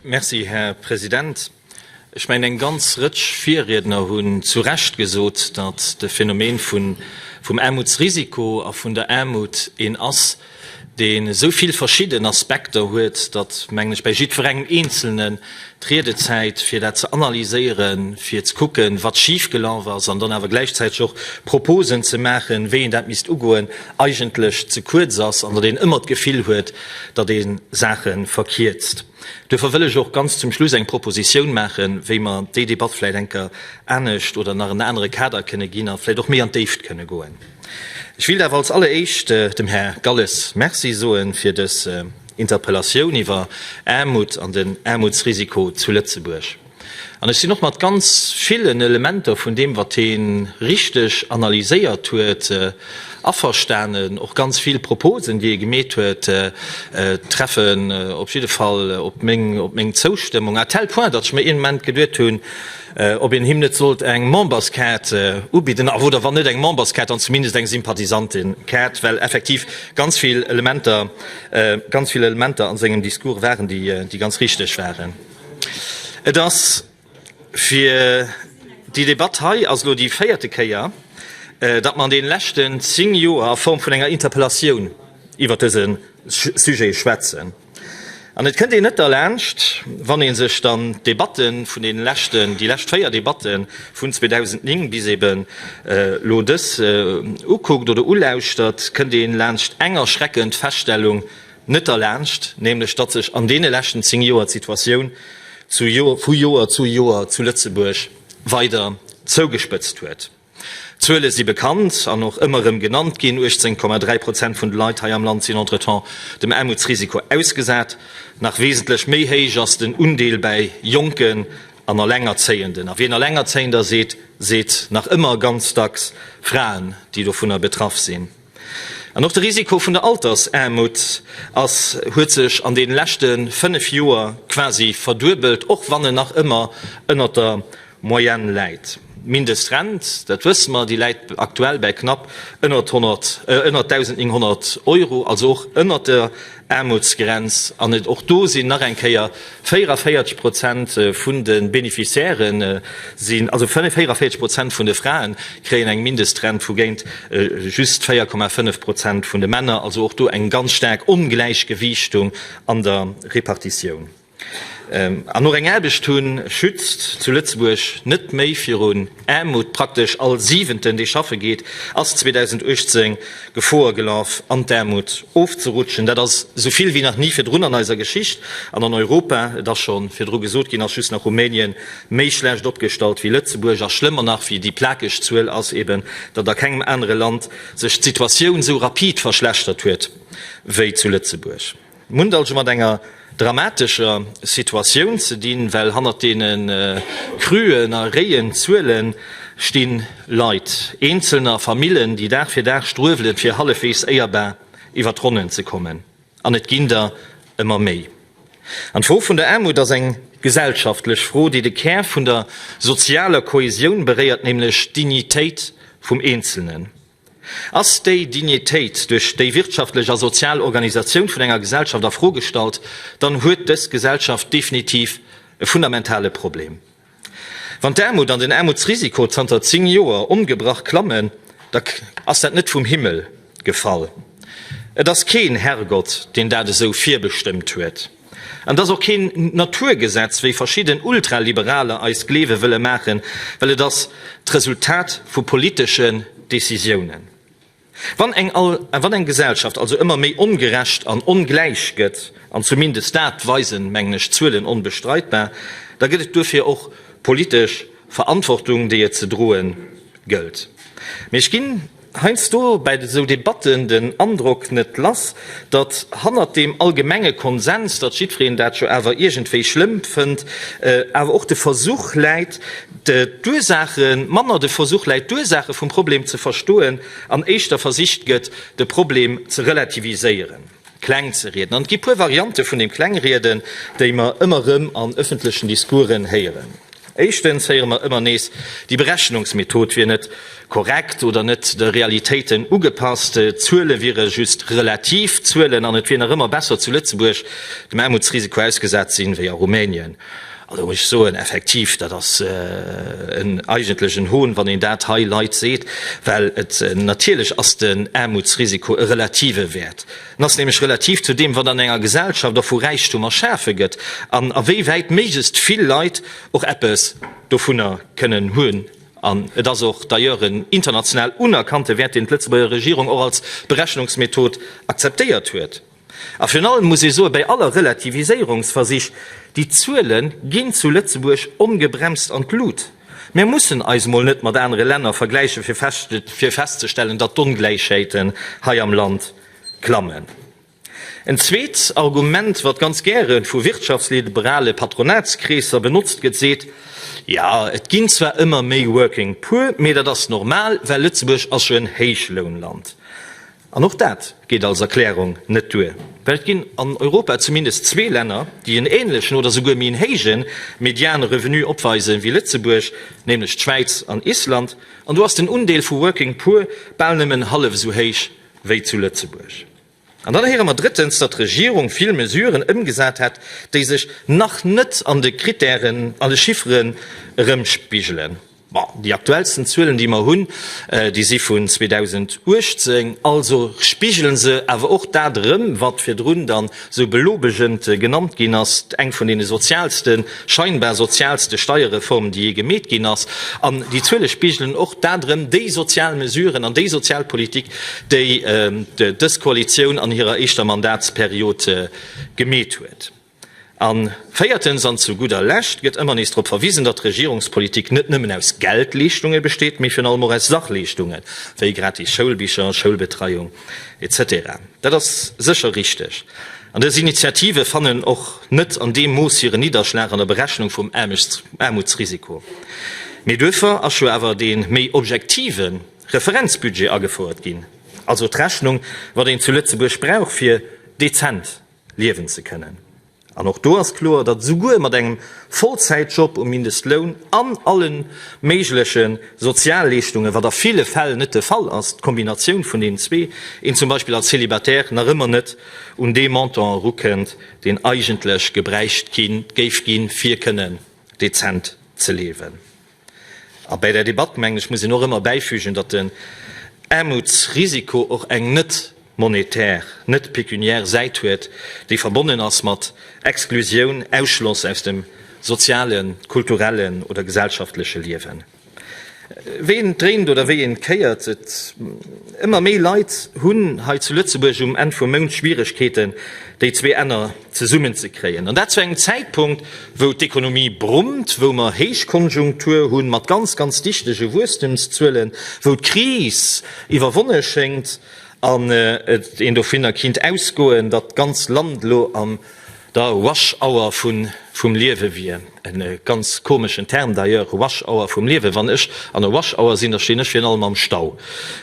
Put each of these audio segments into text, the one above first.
Merci, Här President. Ech mengen, eng ganz Rëtsch Virriedner hunn zu Recht gesot, datt de Phänomen vun, vum Aarmutsrisiko a vun der Aarmut een ass, dee sou vill verschidden Aspekter huet, datt, mengen ech, bei jiddwerengem Eenzelnen d'Riedezäit, fir dat ze analyséieren, fir ze kucken, wat schifgelaf ass, an dann awer gläichzäiteg och Proposen ze maachen, wéi een dat misst ugoen, eigentlech ze kuerz ass an datt een ëmmer d'Gefill huet, datt ee Saache verkierzt. Duerfir wëll ech och ganz zum Schluss eng Proposition maachen, wéi mer déi Debatt vläicht enker anescht oder nach en anere Kader kënne ginn a vläicht och méi an d'Déift kënne goen. Ech willt awer als alleréischt dem Här Galles Merci soe fir dës Interpellation iwwer Aarmut an den Aarmutsrisiko zu Lëtzebuerg. An ech sinn och mat ganz villen Elementer vun deem, wat hie richteg analyséiert huet, averstanen. Och ganz vill Proposen, déi hie gemeet huet, treffen op jidde Fall op meng Zoustëmmung, à tel point, datt ech mer een Ament geduet hunn, ob een him net sollt eng Memberskaart ubidden, oder wann net eng Memberskaart, dann zumindest eng Sympathisantenkaart, well effektiv ganz vill Elementer an sengem Discours waren, déi ganz richteg waren. Et ass fir déi Debatt hei ass elo déi véierte Kéier, datt mer an deene leschten zéng Joer a Form vun enger Interpellatioun iwwert dëse Sujet schwätzen. An et kënnt een net derlaanscht, wann ee sech dann d'Debatte vun deene leschten, déi lescht véier Debatte vun 2009 bis eben elo dës ukuckt oder ulauschtert, kënnt ee laanscht eng erschreckend Feststellung, Net derlaanscht nämlech, datt sech an deene leschten zéng Joer d'Situatioun vu Joer zu Joer zu Lëtzebuerg weider zougespëtzt huet. D'Zuele si bekannt an och ëmmer erëm genannt ginn, 18,3 Prozent vun de Leit hei am Land sinn entretemps dem Aarmutsrisiko ausgesat. Nach wesentlech méi héich ass den Undeel bäi Jonken an Alengerzéienden. A wien Alengerzéiender seet, seet nach ëmmer ganz dacks Fraen, déi dovunner betraff sinn. An och de Risiko vun der Altersaarmut ass, huet sech an deene leschte 5 Joer quasi verduebelt, och wann en nach ëmmer ënnert der Moyenne läit. D'Mindestrent, dat wësse mer, déi läit aktuell bäi knapp ënnert 1.900 Euro, also och ënnert der Aarmutsgrenz an et och do sinn nach eng Kéier 44 Prozent vun de Beneficiaire sinn, also 44 Prozent vun de Frae kréien eng Mindestrent vu géint just 4,5 Prozent vun de Männer, also och do eng ganz staark Ongläichgewiichtung an der Repartitioun. An och eng Aarbecht hunn, schützt zu Lëtzebuerg net méi virun Aarmut. Praktesch all Siwenten, dee schaffe geet, ass 2018 Gefor gelaf, an d'Aarmut ofzerutschen. Dat ass esou vill wéi nach ni virdrun an eiser Geschicht an an Europa. Et ass scho virdru gesot ginn, ass just nach Rumänien méi schlecht opgestallt wéi Lëtzebuerg. A schlëmmer nach wéi déi plakeg Zuel ass eben, datt a kengem anere Land sech d'Situatioun esou rapid verschlechtert huet wéi zu Lëtzebuerg. Mir hunn et also mat enger dramatescher Situatioun ze dinn, well hannert deene cruen a réien Zuele sti Leit, Eenzelner, Famillen, déi Dag fir Dag struewelen, fir hallefweegs éierbar iwwer d'Ronnen ze kommen. An et ginn der ëmmer méi. An d'Fro vun der Aarmut ass eng gesellschaftlech Fro, déi de Kär vun der sozialer Kohäsioun beréiert, nämlech d'Dignitéit vum Eenzelnen. Ass déi Dignitéit duerch déi wirtschaftlech a sozial Organisatioun vun enger Gesellschaft a Fro gestallt, dann huet dës Gesellschaft definitiv e fundamentale Problem. Wann d'Aarmut an den Aarmutsrisiko zanter 10 Joer ongebrach klammen, da ass dat net vum Himmel gefall. Et ass keen Herrgott, deen dat esou virbestëmmt huet. An et ass och keen Naturgesetz, wéi verschidden Ultraliberaler eis gleewe wëlle maachen, well et ass d'Resultat vu politeschen Decisiounen. Wann eng Gesellschaft also ëmmer méi ongerecht an ongläich gëtt, an zumindest dat weisen, mengen ech, d'Zuelen onbestreitbar, da gëtt et duerfir och politesch Verantwortung, déi et ze droe gëllt. Mee ech ginn Heiansdo bei esou Debatten den Androck net lass, datt hannert deem allgemenge Konsens, datt jiddwereen dat jo awer iergendwéi schlëmm fënnt, awer och de Versuch läit, d'Ursaache manner de Versuch läit, d'Ursaache vum Problem ze verstoen an éischter versicht gëtt, de Problem ze relativiséieren. Kläng ze rieden. An et gi puer Variante vun dem Klengrieden, déi mer ëmmer erëm an ëffentlechen Discoursen héieren. Éischtens héiere mer ëmmer nees, déi Berechnungsmethod wier net korrekt oder net de Realitéiten ugepasst, d'Zuele wiere just relativ Zuelen an et wier nach ëmmer besser zu Lëtzebuerg dem Aarmutsrisiko ausgesat sinn, wéi a Rumänien. Also da muss ech soen, effektiv, dat ass eigentlech en Hohn, wann een dat hei Leit seet, well natierlech ass den Aarmutsrisiko e relative Wäert. En ass nämlech relativ zu deem, wat an enger Gesellschaft och vu Räichtum erschafe gëtt an a wéi wäit méiglechst vill Leit och eppes dovunner kënnen hunn. An et ass och d'ailleurs en international unerkannte Wäert, deen d'Lëtzebuerger Regierung och als Berechnungsmethod akzeptéiert huet. A virun allem muss ee soen, bei aller Relativiséierungsversich, déi Zuele ginn zu Lëtzebuerg ongebremst an d'Lut. Mir mussen eis emol net mat anere Länner vergläichen, fir festzestellen, datt d'Ongläichheeten hei am Land klammen. En zweet Argument, wat ganz gäre vu wirtschaftsliberale Patronatskreesser benotzt gëtt, seet, Jo, et ginn zwar ëmmer méi Working Poor, mee dat ass normal, well Lëtzebuerg ass jo en Héichlounland. An och dat geet als Erklärung net duer, well et ginn an Europa zumindest zwee Länner, déi en änlechen oder souguer méi en héije mediane Revenu opweise wéi Lëtzebuerg, nämlech d'Schwäiz an Island. An do ass den Undeel vu Working Poor bal nëmmen hallef esou héich wéi zu Lëtzebuerg. An dann héiere mer drëttens, datt d'Regierung vill Mesuren ëmgesat hätt, déi sech nach net an de Krittären, an de Chifferen erëmspigelen. Bon, déi aktuellsten Zuelen, déi mer hunn, déi si vun 2018, also spigelen se awer och dat erëm, wat virdrun dann esou belobegend genannt ginn ass, eng vun deene sozialsten, scheinbar sozialste Steierreformen, déi jee gemeet ginn ass. An déi Zuele spigelen och dat erëm, déi sozial Mesuren an déi sozial Politik, déi dës Koalitioun an hirer éischter Mandatsperiod gemeet huet. A véiertens an zu gudder Lescht gëtt ëmmer nees drop verwisen, datt Regierungspolitik net nëmmen aus Geldleeschtunge besteet, mee virun allem och aus Sachleeschtunge wéi gratis Schoulbicher, Schoulbetreiung, etc. Dat ass sécher richteg. An dës Initiative fannen och net an deem Mooss hiren Nidderschlag an der Berechnung vum Aarmutsrisiko. Mee duerfir ass jo awer dee méi objektive Referenzbudget agefouert ginn, also d'Rechnung, wat een zu Lëtzebuerg brauch, fir dezent liewen ze kënnen. An och do ass kloer, datt esouguer mat engem Vollzäitjob um Mindestloun an alle méigleche Sozialleeschtunge, wat a ville Fäll net de Fall ass, d'Kombinatioun vun deenen zwee, een zum Beispill als Célibataire nach ëmmer net un dee Montant erukënnt, deen eigentlech gebräicht géif ginn, fir kënnen dezent ze liewen. A bäi där Debatt, mengen ech, muss een och ëmmer bäifügen, datt den Aarmutsrisiko och eng net monetär, net pécuniaire Säit huet, déi verbonnen ass mat Exklusioun, Ausschloss aus dem sozialen, kulturellen oder gesellschaftleche Liewen. Wéi een et dréint oder wéi een et kéiert, et ëmmer méi Leit hunn hei zu Lëtzebuerg um Enn vum Mount Schwieregkeeten, déi zwee Enner zesummen ze kréien, an dat zu engem Zäitpunkt, wou d'Ekonomie brummt, wou mer Héichkonjunktur hunn, mat ganz, ganz dichtege Wuesstemszuelen, wou d'Kris iwwerwonne schéngt an een dovunner kinnt ausgoen, datt d'ganz Land elo an der Rush Hour vum Liewe wier, e ganz komeschen Term d'ailleurs, Rush Hour vum Liewe. Wann ech an der Rush Hour sinn, da stinn ech virun allem am Stau.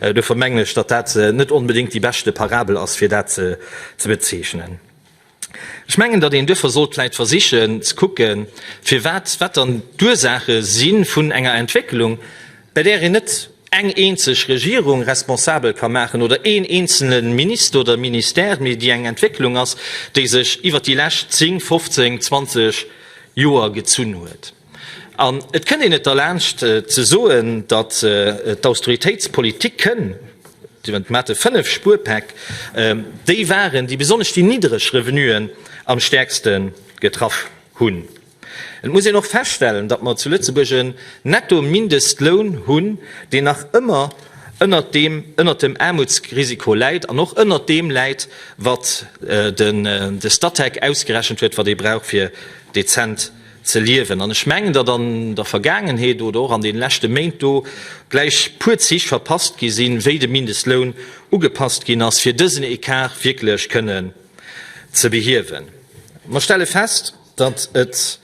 Dofir mengen ech, datt dat net onbedéngt déi beschte Parabel ass, fir dat ze bezeechnen. Ech mengen, datt een duerfir sollt vläicht versichen ze kucke firwat, wat dann d'Ursaache si vun enger Entwécklung, bei där een net eng eenzeg Regierung responsabel ka maachen oder een eenzele Minister oder Ministère, mee déi eng Entwécklung ass, déi sech iwwer déi lescht 10, 15, 20 Joer gezunn huet. An et kënnt een net derlaanscht ze soen, datt d'Austeritéitspolitik kënn, déi mat de fënnef Spuerpäck, déi waren, déi besonnesch déi niddereg Revenuen am stäerkste getraff hunn. Et muss een och feststellen, datt mer zu Lëtzebuerg en Netto-Mindestloun hunn, deen nach ëmmer ënnert deem, ënnert dem Aarmutsrisiko läit an och ënnert deem läit, wat de Statec ausgerechent huet, wat ee brauch, fir dezent ze liewen an ech mengen, datt an der Vergaangenheet oder och an deene leschte Méint do gläich puer Zich verpasst gi sinn, wéi de Mindestloun ugepasst ginn ass, fir dësen Ecart wierklech kënnen ze behiewen. Mer stelle fest, datt et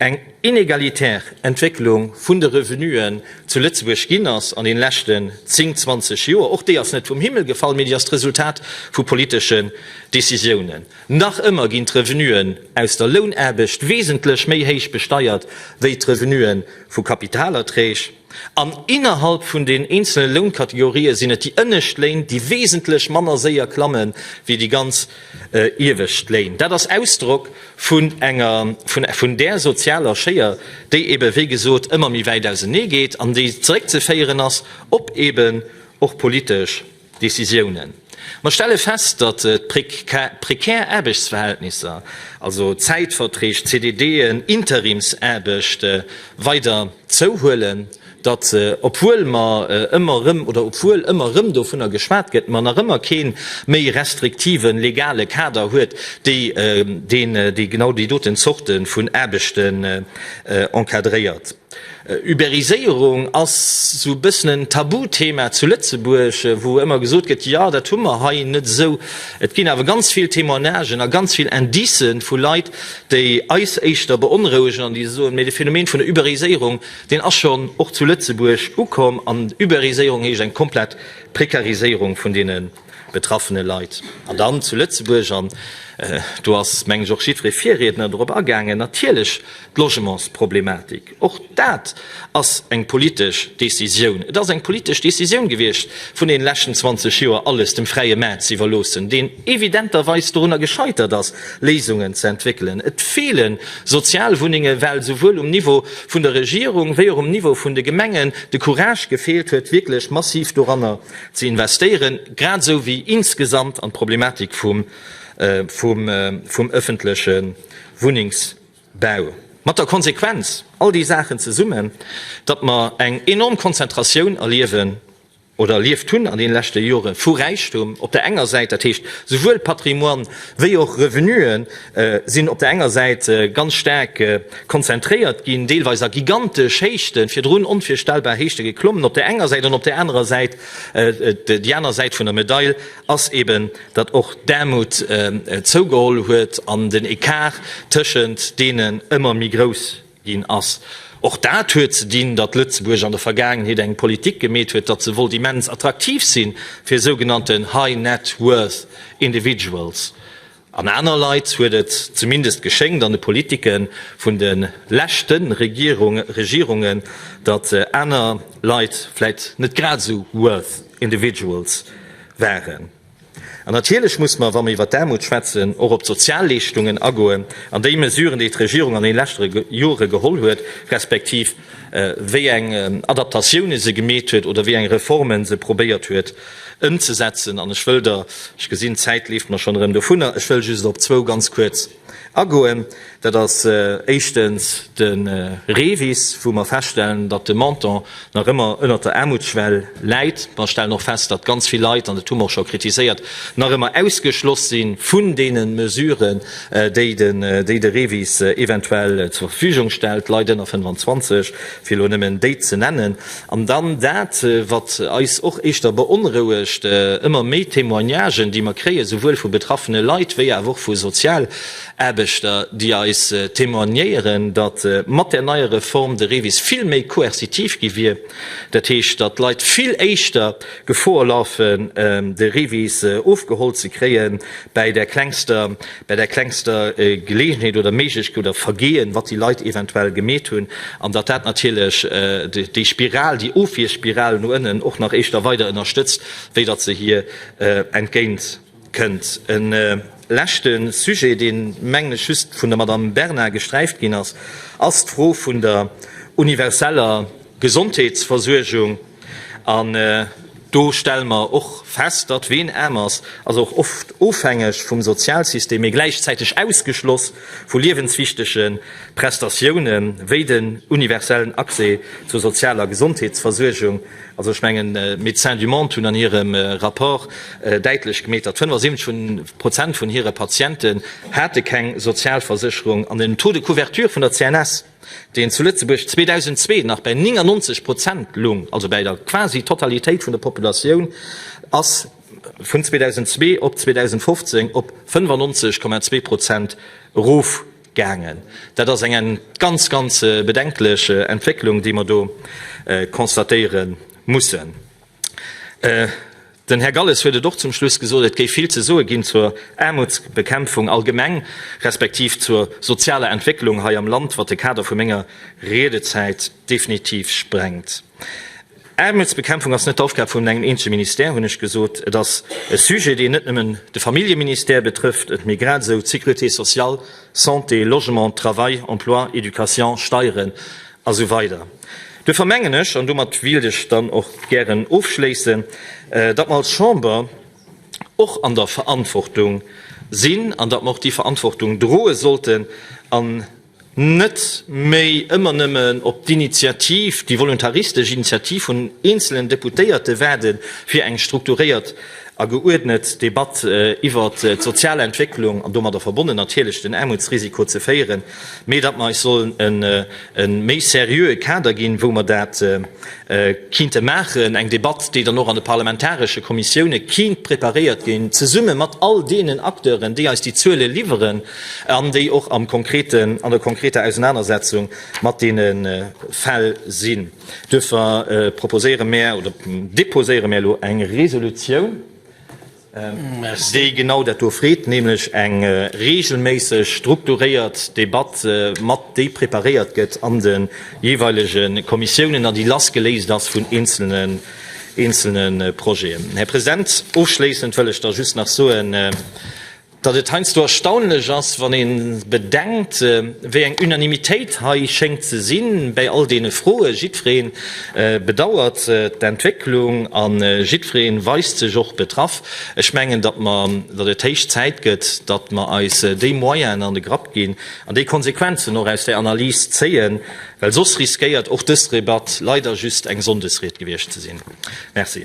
eng inegalitär Entwécklung vun de Revenuen zu Lëtzebuerg ginn ass an deene leschten zéng, zwanzeg Joer. Och déi ass net vum Himmel gefall, mee déi ass d'Resultat vu politesche Decisiounen. Nach ëmmer ginn d'Revenuen aus der Lounaarbecht wesentlech méi héich besteiert wéi d'Revenue vu Kapitalerträg. An innerhalb vun den eenzele Lounkategorië sinn et déi ënnescht Léin, déi wesentlech manner séier klamme wéi déi ganz iewescht Léin. Dat ass Ausdrock vun enger vun där sozialer Schéier, déi ebe wéi gesot ëmmer méi wäit auseneegeet an déi zeréckzeféieren ass op eben och politesch Decisiounen. Mer stelle fest, datt d'prekär Aarbechtsverhältnisser, also Zäitverträg, CDDen, Interimsaarbechte weider zouhuelen, datt obwuel mer ëmmer erëm, oder obwuel ëmmer erëm dovunner geschwat gëtt, mer nach ëmmer kee méi restriktive legale Kader huet, deen genau déi doten Zorte vun Aarbechten encadréiert. Uberiséierung ass sou e bëssen en Tabuthema zu Lëtzebuerg, wou ëmmer gesot gëtt, jo dat hu mer hei net esou. Et ginn awer ganz vill Témoignagen a ganz vill Indicë vu Leit, déi eis éischter beonrouegen an déi soen, mee de Phänomen vun der Uberiséierung, deen ass schonn och zu Lëtzebuerg ukomm an Uberiséierung heescht eng komplett Prekariséierung vun deene. betraffene Leit. An dann zu Lëtzebuerg, an do ass, mengen ech, och jiddweree Virriedner dorop agaangen, natierlech d'Logementsproblematik. Och dat ass eng politesch Décisioun. Et ass eng politesch Décisioun gewiescht, vun deenen leschten 20 Joer alles dem fräie Maart ze iwwerloossen, deen evidenterweis dorunner gescheitert ass, Léisungen ze entwéckelen. Et feele Sozialwunnenge, well esouwuel um Niveau vun der Regierung wéi och um Niveau vun de Gemengen de Courage gefeelt huet, wierklech massiv doranner Ze investéieren, grad esou wéi insgesamt an d'Problematik vum ëffentleche Wunnengsbau. Mat der Konsequenz, all déi Saachen zesummen, datt mer eng enorm Konzentratioun erliewen oder erlieft hunn an deene leschte Jore vu Räichtum op der enger Säit, dat heescht esouwuel Patrimoine wéi och Revenuen, sinn op der enger Säit ganz staark konzentréiert ginn, deelweis a gigantesch Héichten, virdrun onvirstellbar Héichte geklommen, op der enger Säit, an op der anerer Säit, déi aner Säit vun der Medail ass eben, datt och d'Aarmut zougeholl huet an den Ecart tëschent deenen ëmmer méi grouss ginn ass. Och dat huet ze dinn, datt Lëtzebuerg an der Vergaangenheet eng Politik gemeet huet, datt se wollt immens attraktiv sinn fir sougenannten high net worth individuals, An aner Leit huet et zumindest geschéngt, an de Politike vun de leschte Regierunge, datt aner Leit vläit net grad esou worth individuals waren. An natierlech muss mer, wa mer iwwer d'Aarmut schwätzen, och op d'Sozialleeschtungen agoen an déi Mesuren, déi d'Regierung an deene leschte Jore geholl huet, respektiv wéi eng Adaptatioune se gemeet huet oder wéi eng Reforme se probéiert huet ëmzesetzen. An ech wëll der, ech gesinn d'Zäit leeft mer schonn erëm dovunner, ech wëll just op zwou ganz kuerz agoen. Dat ass éischtens de REVIS, wou mer feststellen, datt de Montant nach ëmmer ënnert der Aarmutsschwell läit. Mer stellen och fest, datt ganz vill Leit, an dat hu mer och scho kritiséiert, nach ëmmer ausgeschloss si vun deene Mesuren. déi de REVIS eventuell zur Verfügung stellt, Leit ënner 25, fir elo nëmmen déi ze nennen. An dann dat, wat eis och éischter beonrouegt, ëmmer méi Témoignagen, déi mer kréien, souwuel vu betraffene Leit wéi awer och vu Sozialaarbechter, déi eis témoignéieren, datt mat där neier Reform de REVIS vill méi coercitiv gi wier, dat heescht, datt d'Leit vill éischter, Gefor lafen, de Rivis ofgeholl ze kréien bäi der klengster, bäi der klengster Geleegenheet oder Méiglech oder Vergehen, wat déi Leit eventuell gemeet hunn, an datt dat natierlech déi Spiral, déi Ofwierspiral no ënnen och nach éischter weider ënnerstëtzt, wéi datt se hir entgéint. kënnt. E leschte Sujet, dee mengen ech just vun der Madamm Bernard gesträift ginn ass, ass d'Fro vun der universeller Gesondheetsversuergung. An do stelle mer och fest, datt ween aarm ass, ass och oft ofhängeg vum Sozialsystem, mee gläichzäiteg ausgeschloss vu liewenswichtege Prestatiounen, wéi den universellen Accès zur sozialer Gesondheetsversuergung, Also ech mengen, d'Médecins du Monde hunn an hirem Rapport däitlech gemeet, datt 75 Prozent vun hire Patienten hate keng Sozialversécherung an den Taux de couverture vun der CNS, deen zu Lëtzebuerg 2002 nach bäi 99 Prozent lung, also bäi der quasi Totalitéit vun der Populatioun, ass vun 2002 op 2015 op 95,2 Prozent erof. Gaangen. Dat ass eng ganz, ganz bedenklech Entwécklung, déi mer do constatéiere mussen. Den Här Galles huet et och zum Schluss gesot, Et géif vill ze soe ginn zur Aarmutsbekämpfung allgemeng, respektiv zur sozialer Entwécklung hei am Land, wat de Kader vu menger Riedezäit definitiv sprengt. Aarmutsbekämpfung ass net d'Aufgab vun engem eenzege Ministère, hunn ech gesot. Et ass e Sujet, deen net nëmmen de Familljeministère betrëfft, et mee grad esou d'Sécurité sociale, Santé, Logement, Travail, Emploi, Education, Steieren a sou weider. Duerfir mengen ech, an domat wéilt ech dann och gären ofschléissen, datt mer als Chamber och an der Verantwortung sinn an datt mer och déi Verantwortung droe sollten an, net méi ëmmer nëmmen op d'Initiativ, déi voluntaristesch Initiativ vun eenzelen Deputéierte waarde fir eng strukturéiert a geuerdnet Debatt iwwert d'sozial Entwécklung an domadder verbonnen natierlech den Aarmutsrisiko ze féieren, mee datt mer eis sollen e méi seriöe Kader ginn, wou mer dat kinnte maachen, eng Debatt, déi dann och an de parlamentaresche Kommissioune kinnt preparéiert ginn, zesumme mat all deenen Acteuren, déi eis déi Zuele liwwere an déi och am konkreten, an der konkreter Ausenanersetzung mat deene Fäll sinn. Duerfir proposéiere mär oder deposéiere mär elo eng Resolutioun, déi genau dat do freet, nämlech eng regelméisseg strukturéiert Debatt mat, déi preparéiert gëtt an de jeeweilege Kommissiounen a déi lassgeléist ass vun eenzelne Projeten. Här President, ofschléissend wëll ech da just nach soen, Datt et heiansdo erstaunlech ass, wann ee bedenkt, wéi eng Unanimitéit hei schéngt ze sinn bäi all deene Froen. Jiddweree bedauert d'Entwécklung a jiddweree weist sech och betraff. Ech mengen, datt mer, datt et héich Zäit gëtt, datt mer eis déi Moyenen an de Grapp ginn an déi Konsequenzen och aus där Analys zéien, well soss riskéiert och dës Debatt leider just eng Sonndesried gewiescht ze sinn. Merci.